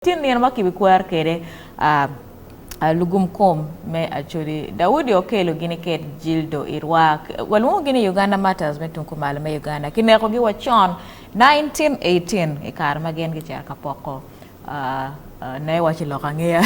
Tye nino ma kibikwero kwede a lugum kom me Acholi. Daudi okelo gini ket Jildo i rwa. Walwongo gini Uganda Martyrs me tung kumalo me Uganda. Kineko gi wa con 1918 i kare ma gin gicito ka poko na i waco lok angeya.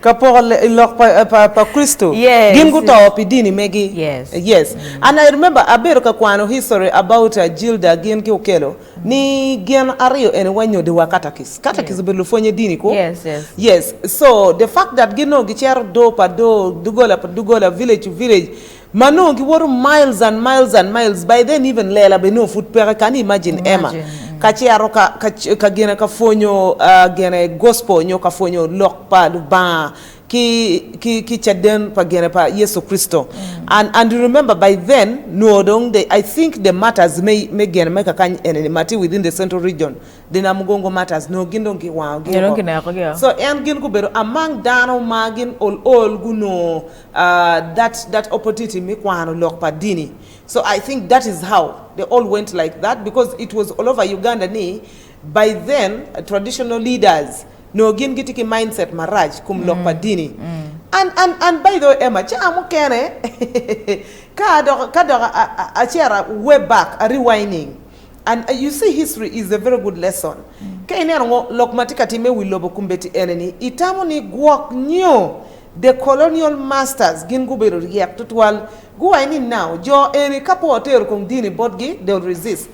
Ka poko lok pa Kricito. Gin guto pi dini megi. Yes. Yes. And I remember abedo ka kwano history about Jilda gin ki okelo. Ni gin aryo eni wa nyodi wa katakis. Katakis obedo lupwonye dini ko. Yes, yes. Yes. So the fact that gin nongo gicero do pa do, dugola pa dugola, village to village, ma nongo giwoto miles and miles and miles, by then even lela bene nongo pud peke, can you imagine Emma ka cero ka ka ka gine ka pwonyo gine gospel nyo ka pwonyo lok pa Lubanga ki ki ki caden pa gene pa Yecu Kricito and and you remember by then nwo dong the I think the martyrs me me gene me kakany ene ni ma tye within the central region the Namugongo martyrs nwo gin dong giwango gi Nyo dong woko kineko gi o. so en gin gubedo among dano ma gin ol ol gunongo ah that that opportunity me kwano lok pa dini so I think that is how they all went like that because it was all over Uganda ni By then traditional leaders noo gin gitye ki mindset marac kom lok pa dini and and and by the way Emma ca mukene ka adok ka dok a cera way back a rewinding and you see history is a very good lesson ka ineno ngo lok matye ka time iwi lobo kombeddi ene ni itamo ni gwok nyo the colonial masters gin gubedo ryek tutwal gu why ni now jo eni kapo otero kong dini botgi they'll resist.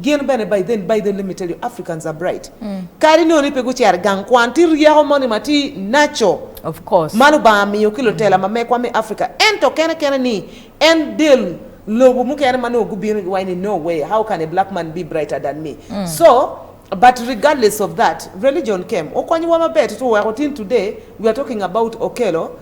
Gin bene Baiden, Baiden let me tell you Africans are bright kadi nongo ni pe gucero i gang kwan tye ryeko moni ma tye naco Of course. ma Lubanga miyo ki lutela ma mekwa me Africa ento kene kene ni en del lobo mukene ma nongo gubino giwaco ni no way how can a black man be brighter than me so but regardless of that religion came okonyowa maber tutwal weko till today we are talking about Okello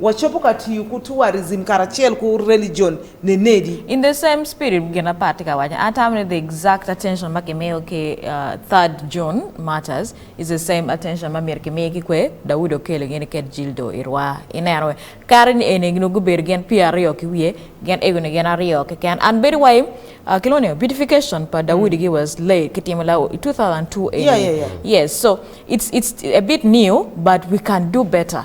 Wacobo ka tiyo ku tourism karacel ku religion nenedi? In the same spirit gin apar tye ka waco atamo ni the exact attention ma kimiyo ki third June martyrs is the same attention ma myero kimi ki kwe Daudi okelo gin i ket jildo i rwa i neno we kare ni eni nongo gubedo gin pye aryo ki wiye gin ego ni gin aryo keken and bedo wai kilwongo ni beautification pa Daudi gi was late kitimo la i 2002 eni yeah yeah yeah yes so it's it's a bit new but we can do better.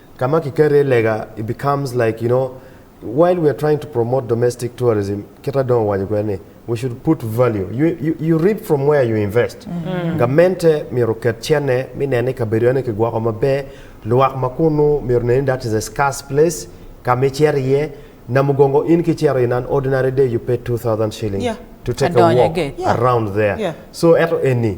kama kiketo iye lega it becomes like you know while we are trying to promote domestic tourism kit ma dong owaco kwede ni we should put value you, you, you reap from where you invest gamente myero oket cente me neno ni kabedo eno kigwoko maber lwak ma kunu myero neni that is a scarce place kama icito iye Namugongo in ka icito in an ordinary day you pay 2000 shillings Yeah. to take a Adonyo walk iye. Yeah. around there Yeah. so eto eni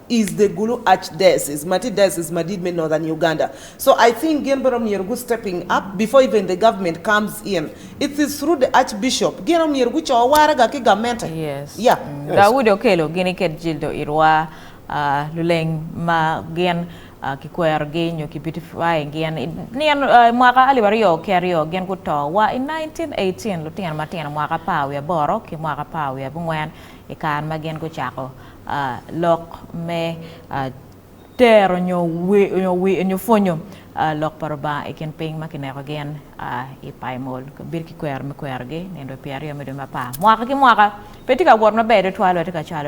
is the Gulu Archdiocese ma tye diocese madit me Northern Uganda so I think gin bene myero gu stepping up before even the government comes in it is through the Archbishop gin aye myero guco waraga ki gamente Yes. yeah. Daudi Okello gini ked Jildo Irwa, ah, luleng ma gin ah, kikwerogi nyo ki beautify gin i nino ah, i mwaka alip aryo ki aryo gin guto wa i 1918 lutino matino mwaka apar wiye aboro ki mwaka apar wiye abungwen i kare ma gin gucako lok me tero nyo pwonyo lok pa Lubanga i kin piny ma kineko gin i Paimol. Bedo ki kwero me kwerogi nino dwe pyeraryo me dwe me apar mwaka ki mwaka pe tye ka wot maber tutwal wek tye ka cwalo